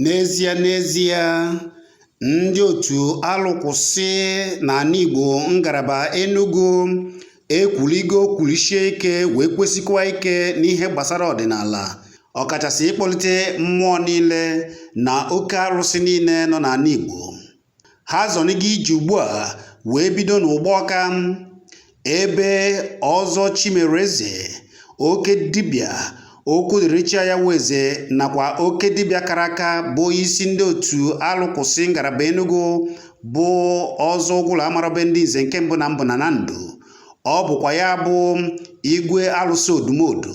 N'ezie n'ezie, ndị otu alụkwụsị n'ala Igbo ngalaba Enugu ekwuligo kwulisie ike wee kwesikwa ike n'ihe gbasara ọdịnala ọkachasị ịkpọlite mmụọ niile na oke arụsị niile nọ n'ala Igbo ha zọnigo ije ugbu a wee bido n'Ụgbọka ebe ọzọ chimereze oke dibịa okwu dịrị chi ya weze nakwa oke dibịa kara aka bụ isi ndị otu alụkwụsị ngalaba enugu bụ ọzọ ụgwụrụ amarabe ndị nze nke mbụ na mbụ na na ndụ ọ bụkwa ya bụ igwe alụsị odumodu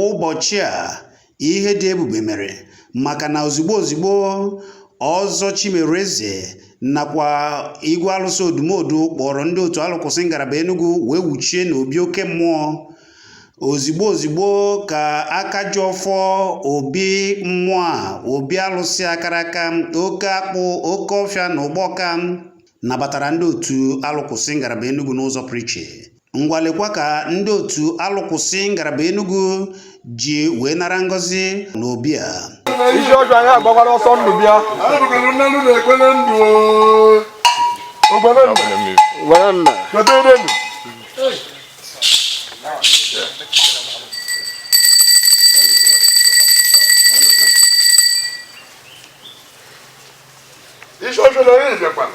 Ụbọchị a, ihe dị ebube mere maka na ozigbo ozigbo Ọzọ Chimereze nakwa Igwe Alụsị Odumodu kpọrọ ndị otu alụkwụsị ngalaba Enugu wee wuchie n'obi oke mmụọ ozigbo ozigbo ka aka ji ọfọ obi mmụọ a obi alụsị akara aka oke akpụ oke ọfịa na Ụgbọka nabatara ndị otu alụkwụsị ngalaba Enugu n'ụzọ pụrụ iche ngwalekwa ka ndị otu alụkwụsị ngalaba Enugu ji wee nara ngọzi n'obi a isi ọjọọ anyị agbakwara ọsọ ndụ bịa isi ọjọọ anyị bịakwara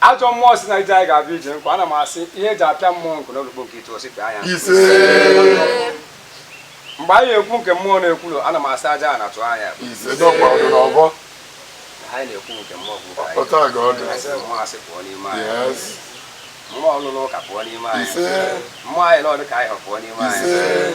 Ajọ mmụọ si na ije anyị ga-abịa ije nkwa ana m asị ihe eji apịa mmụọ nkụ n'olukpo nke itu osi pịa ya mgbe anyị ekwu nke mmụọ na-ekwulu ana m asị aja a na-atụ anya anyị na-ekwu nke mmụọ bụ mmụọ asị pụọ n'ime anyị mmụọ ọlụlụ ụka pụọ n'ime anyị mmụọ anyị n'ọdụ ka anyị hụ pụọ n'ime anyị